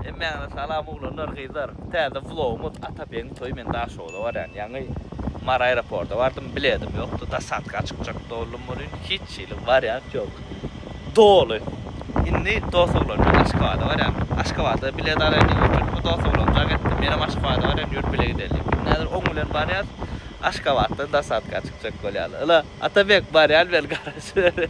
Hemmäňize salam oglanlar gyzlar täze vlogumyz Atabegin toýy men Daşogza barýan ýaňy Mary aeroporta bardym biledim ýokdy dasatka çykjak doldum welin hiç hili wariant ýok doly indi dos oglan bilen Aşgabada barýan Aşgabada bilet alaýyn diýip otyryn bu dos oglanjak etdi menem Aşgabada barýan ýör bile gidelin diýip indi häzir oň bilen barýas Aşgabatdan dasatka çykjak bolýaly yla Atabek barýan welin garaşyber.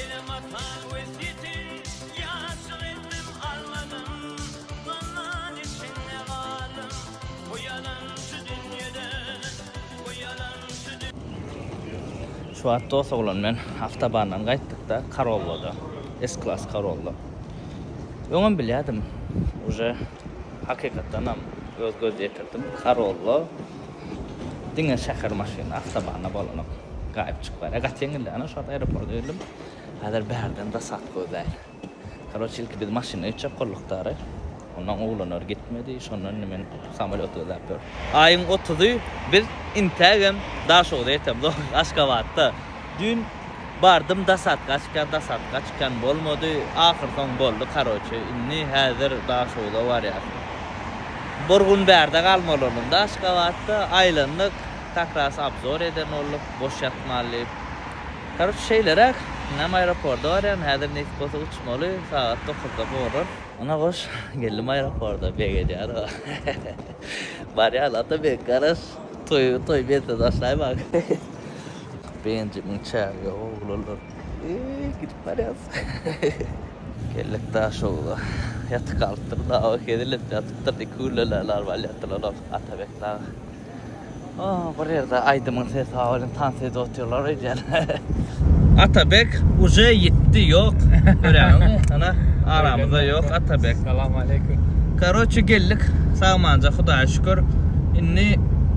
Elem atan wesýetin ýaşyl etdim almadym Zynndan içinde galdym uýalan şu dünýeden uýalan şu Şu wagt dos oglan men awtobandan gaýtdykda Corollada S klass Corolla öňem bilýädim uje hakykatdanam öz göz ýetirdim Corolla Diňe şäher maşyny awtobanda bolanok gaýyp çykyp barýar. Gaty ýeňildi. Ana şu wagt aeroporta girdim. Häzir bärden zasad gözläýin. Karoç ilki biz maşynda gitjek gulluktary. Ondan oglanlar gitmedi. Şondan indi men samolýot gözläp ýörün. Aýyň otuzy biz intägem Daşogza ýetemiz. Aşgabatda. Düýn Bardym dasatgaçka dasatgaçkam bolmady ahyrsoň boldy karoçe indi häzir daşoguza barýas. Bir gün bärde galmalyolunda aşgabatda aýlandyk kakras abzor eden bolduk boş ýatmaly diýip. Karoçe şeýleräk inem aeroporda barýan häzir nesip bolsa uçmaly sagat dokuzda horon. Ana goş geldim aeroporda beg edýär o barýaly ata beg garaş toýy toý bente taşlaýmaň. Renzimiň çägi ýok oglanlar. Eý gidip barýas. Geldik Daşogza. Ýatyp galypdyr dawa hezillip ýatypdyr iki gülleler lal bal ýatdylar olar Atabek dagy. Oh bir ýerde aýdymyň sesi ha welin tans edip otyrlar öýdýän. Atabek uje ýitdi ýok görýäňizmi ana aramyzda ýok Atabek. Salam aleýkum. Karoçe geldik sag-amanca Hudaýa şükür indi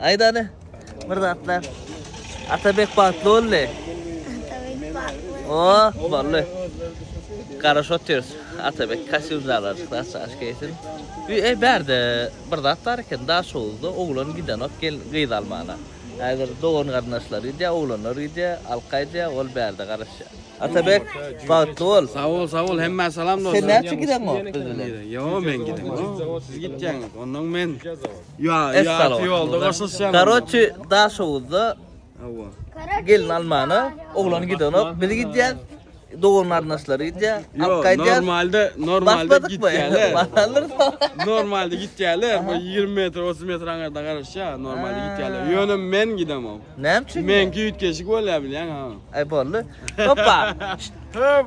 Aýdany bir zatlar. Atabek bagtly boldy. Atabek bagtly. Oh, boldy. Garaş otyrs. Atabek kasyl zalar çyksa çaş kesin. Ey berde bir zat bar eken da şowuzda oglan gidenok gel gyz almana. Häzir dogan garyndaşlar gidýä, oglanlar gidýä, alka aýdýä, ol berde garaşýa. Atabek bagtly bol. Sag bol, sag bol. Hemmä salam dostlar. Sen näçe gideňok biz bilen? Ýok, men gideňok. Siz gitýäňiz. Onnoň men. Ya ya ti oldu gaşyşyan. Karoçi daş owuzda. Awa. Gelin almana, oglan gidenok, biz gidýär. Dogan garnaşlary gidýär. Yo, normalde normalde gidýärler. normalde gidýärler. Bu 20 metr, 30 metr aňarda garaşýa, normalde gidýärler. Ýöne men gidemok. Näme üçin? Men güýtgeşik bolýar bilýän ha. Ay boldy. Hoppa. Hop.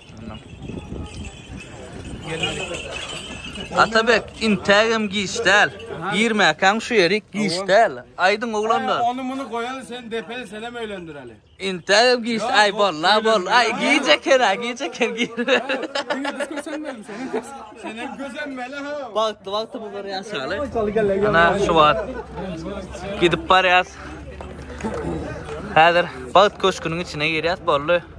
Atabek, intägem giç däl. Girmäkäň şu ýeri giç däl. Aýdyň oglanlar. Ony muny goýan sen depe senem öýlendireli. Intägem giç aý bol, la bol. Aý giç eken, aý giç eken gir. Senem gözenmeli ha. Bagtly bagtly bu bir ýaşaly. Ana şu wagt gidip barýas. Häzir bagt köşküniň içine girýas boldy.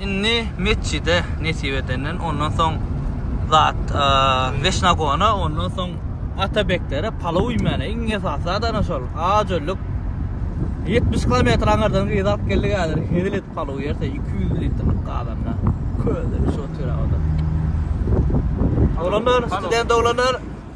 Indi metjide nesip edenden ondan soň zat Weşnagona ondan soň Atabeklere palaw iýmäne iň esasy zadana şol ajölük 70 kilometr aňyrdan gyz alyp geldik häzir hezil edip palaw ýerse 200 litrlik gazanda köze şu otyr awda. Oglanlar, student oglanlar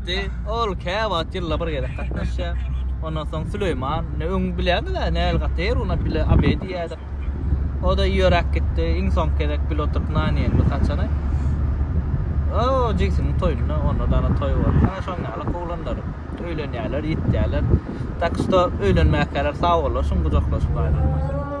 Gatnaşdy. Ol käwagt ýylda bir gezek gatnaşýar. Ondan soň Süleýman, ne öň bilýärmiz-ä, näl gaty her gün bile obed iýerdik. O-da ýöräp gitdi. Iň soňky gezek bile oturyp nan iýenimiz haçana? O, jigsiniň toýunda, onda dana toý boldy. Ana şoň ýaly oglanlar öýlenýärler, ýitýärler. Tak što öýlenmäkäler sag bollaşyň, gujaklaşyp aýrylyň.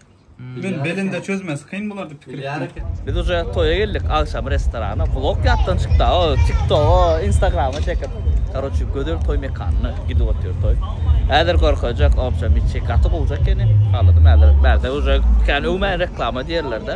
Men belinde çözmesi kyn bolar dip pikir etdim. Biz uje toýa geldik agşam restorana blok ýatdan çykdy o tiktoga instagrama çekip karoçi gözel toý mekanyna gidip otyr toý häzir gorkajak obşa miçi gaty gowjak ýene haladym häzir bärde uje kän öwmäýin reklama diýerlerde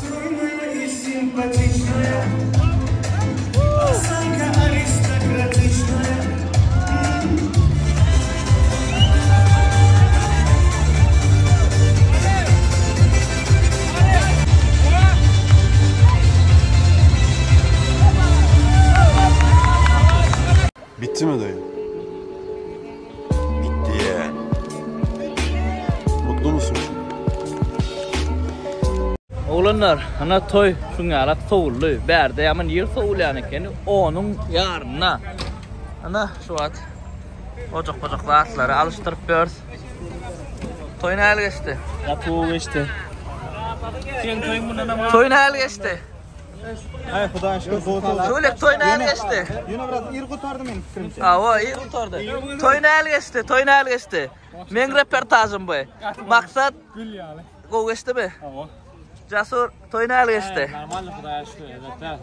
Stroýnaýa i simpatiçnaýa, Osanka aristokratiçnaýa, ýa. Bitdimi daýy? Bitdi ýeän. Mutlumysyň şu gün? Oglanlar, ana toý şuň ýalak sowuldy. Bärde ýaman ýygy sowulýan ekeni, onuň ýaryna. Ana, şu wagt ojak-pojak zatlary alyşdyryp ýörüs. Toý nähili geçdi? Gaty gowy geçdi. Seň toýuň mundanam Toý nähili geçdi? Ay Hudaýa şükür gowy toý. Tulik toy näl geçdi? Ýöne biraz ir gutardy meniň pikirimçe. Awa, ir gutardy. Toy näl geçdi? Toy näl geçdi? Meň reportajym bu. Maksat gül ýaly. Gowy geçdimi? Awa. Jasur toy näl geçdi? Normalny Hudaýa şükür, elbetde.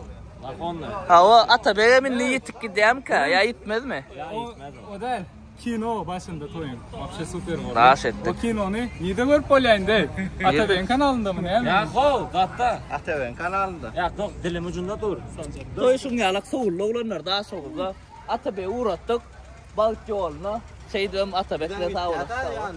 Awa, ata begem indi ýitip gidýärmikä? Ýa ýitmezmi? Ýa ýitmez. O däl. Kino başynda toýun. Wapşe super boldy. Daş etdik. Bu kinony nide görüp bolýar indi? Atabeň kanalynda näme? Ýa ho, gatda. Atabeň kanalynda. Ýa tok dilim ucunda dur. Toý şuň ýalak sowuldy oglanlar da şowulda. Atabegi uratdyk. Bagt ýoluna. Şeýdibem Atabek de sag olasyn.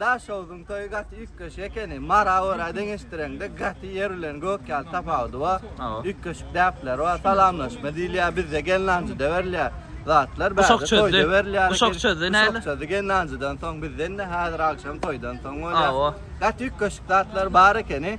Daşoguzyň toýy gaty üýtgeşik ekeni. Mara göra deňeşdireňde gaty ýer bilen gök ýaly tapawudy bar. Üýtgeşik däpleri bar. Salamlaşma diýilýär. Bizde gelnanjyda berilýär. Zatlar bärde Uşak çözdi. toýda berilýär. eken. Uşak çözdi, näli? Uşak çözdi gelnanjydan soň bizde indi häzir agşam toýdan soň bolýar. Hawa. Gaty üýtgeşik zatlar bar ekeni.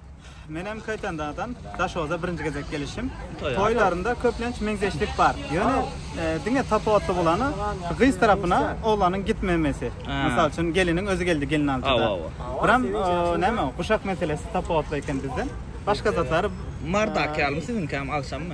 Menem Köytendadan Daşoza birinci gezek gelişim. Toylarında köplenç meňzeşlik bar. Yöne e, dine tapawutly bolany gyz tarapyna oğlanın gitmemesi. Misal üçin gelinin özü geldi gelin altyda. Awa, Biram e, näme o, guşak meselesi tapawutly eken bizden. Başka zatlar Mardak ýalymy siziňki hem agşam mı?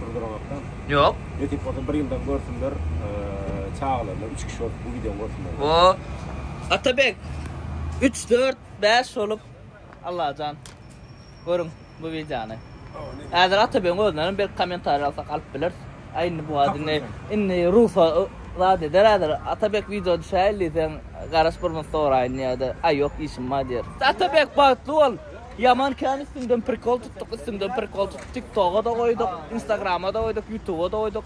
Durdurabakdan. Yok. Netip olsa bir yıldan görsünler. Ee, çağlarla üç kişi olup bu videonu görsünler. O Atabek 3 4 5 olup Allahjan. Görün bu videonu. Häzir Atabek'in özünden bir komentar alsak alyp bilir. Aynı bu adı ne? Inni Rusa zat eder häzir. Atabek video düşäýli sen garaş bir mut soraýyn ýa-da ay yok işim bar diýer. Atabek bagtly bol. Ýaman kän üstüňden prikol tutduk üstüňden prikol tutduk tik toga-da goýduk instagrama-da goýduk ýutuba-da goýduk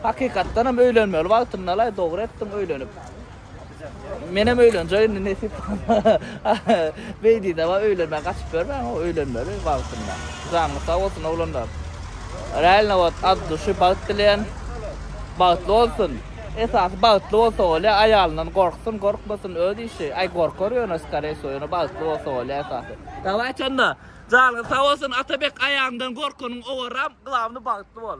hakykatdanam öýlenmeli wagtyndalaý dogry etdiň öýlenip menem öýlenjek indi nesip beýdidaba öýlenmän gaçyp ýörmäň o öýlenmeli wagtynda janyňyz sag bolsun oglanlar realno wot ad duşy bagt dileýän bagtly bolsun. Esasy bagtly bolsa bolýa aýalyndan gorksun gorkmasyn öz işi aý gorkar ýöne skareý wso ýöne bagtly bolsa bolýa esasy. Dawayçy onda. Janyňyz sag bolsun Atabek aýagyňdan gorkanyň owaram glawny bagtly bol.